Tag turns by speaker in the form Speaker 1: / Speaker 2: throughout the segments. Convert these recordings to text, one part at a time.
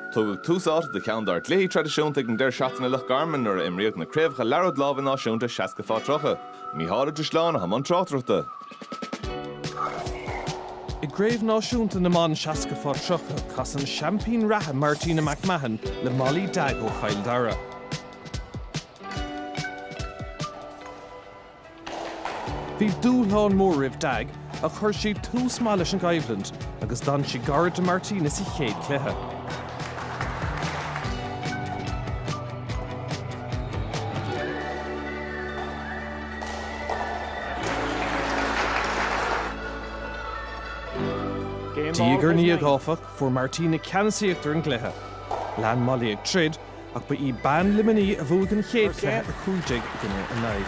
Speaker 1: Tugadh tús áite do cheann dár gcluichí traidisiúnta ag an deireadh seachtaine i Loch Garman nuair a imríodh na craobhacha Liathróid Láimhe Náisiúnta 60 fá 30. Mícheál Uidhir Sleán i mbun tráchtaireachta. I gCraobh Náisiúnta na mBan 60 fá 30 casadh an seaimpín reatha Martina McMahon le Molly Dagg ó Chill Dara. Bhí dúshlán mór roimh Dagg ach chuir sí tús maith leis an gcoimhlint agus d'fhan sí gar do Martina sa chéad chluiche. Diaidh ar ndiaidh, áfach, fuair Martina ceannasaíocht ar an gcluiche. Lean Molly ag troid ach ba í bean Luimnigh a bhuaigh an chéad chluiche, 15 i gcoinne 9.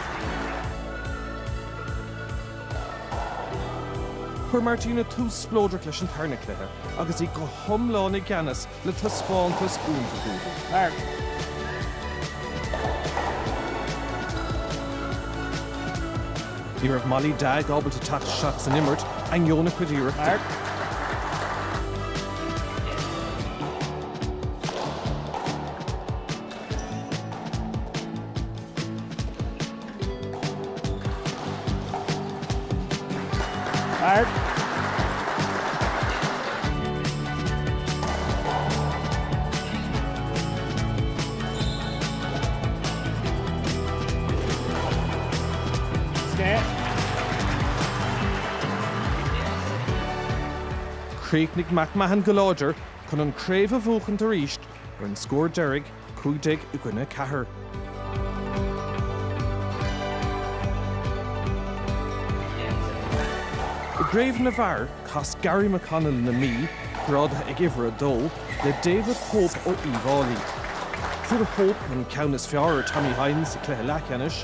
Speaker 1: Chuir Martina tús spleodrach leis an tarna cluiche agus í go hiomlán i gceannas le taispeántas iontach uaithi. Ní raibh Molly Dagg ábalta teacht isteach san imirt, ainneoin a cuid iarrachtaí. Chríochnaigh McMahon go láidir. chun an craobh a bhuachaint arís ar an scór deiridh, cúig déag i gcoinne ceathair. I gcraobh na bhfear, chas Garry McConnell na Mí, grádaithe ag uimhir a dó, le David Hope ó Uíbh Fháilí. Fuair Hope an ceann is fearr ar Tommy Hynes sa chluiche leathcheannais,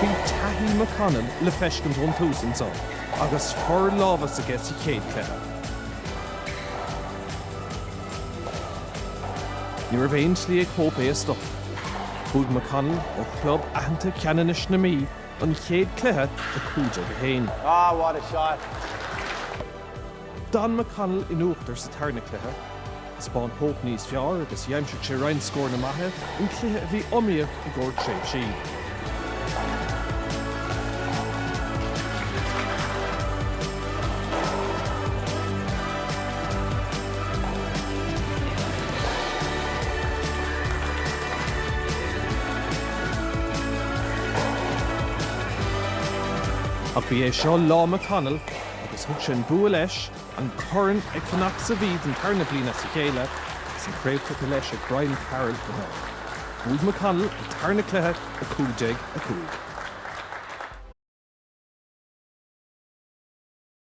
Speaker 1: Bhí taithí McConnell le feiscint ón tús anso agus forlámhas aige sa chéad chluiche. Ní raibh aon tslí ag Hope é a stopadh. Bhuaigh McConnell ó chlub aitheanta Cheanannais na Mí an chéad chluiche 15-1. Ah, what a shot! D'fhan McConnell in uachtar sa tarna cluiche. Dhein Hope níos fearr agus d'aimsigh sé roinnt scóranna maithe in cluiche a bhí iomaíoch i gcomhair tréimhsí. Ach ba é seo lá McConnell agus thug sé an bua leis, an corn ag fanacht sa Mhí don tarna bliain as a chéile agus an chraobh tugtha leis ag Brian Carroll chomh maith. Bhuaigh McConnell an tarna cluiche, 15, 5.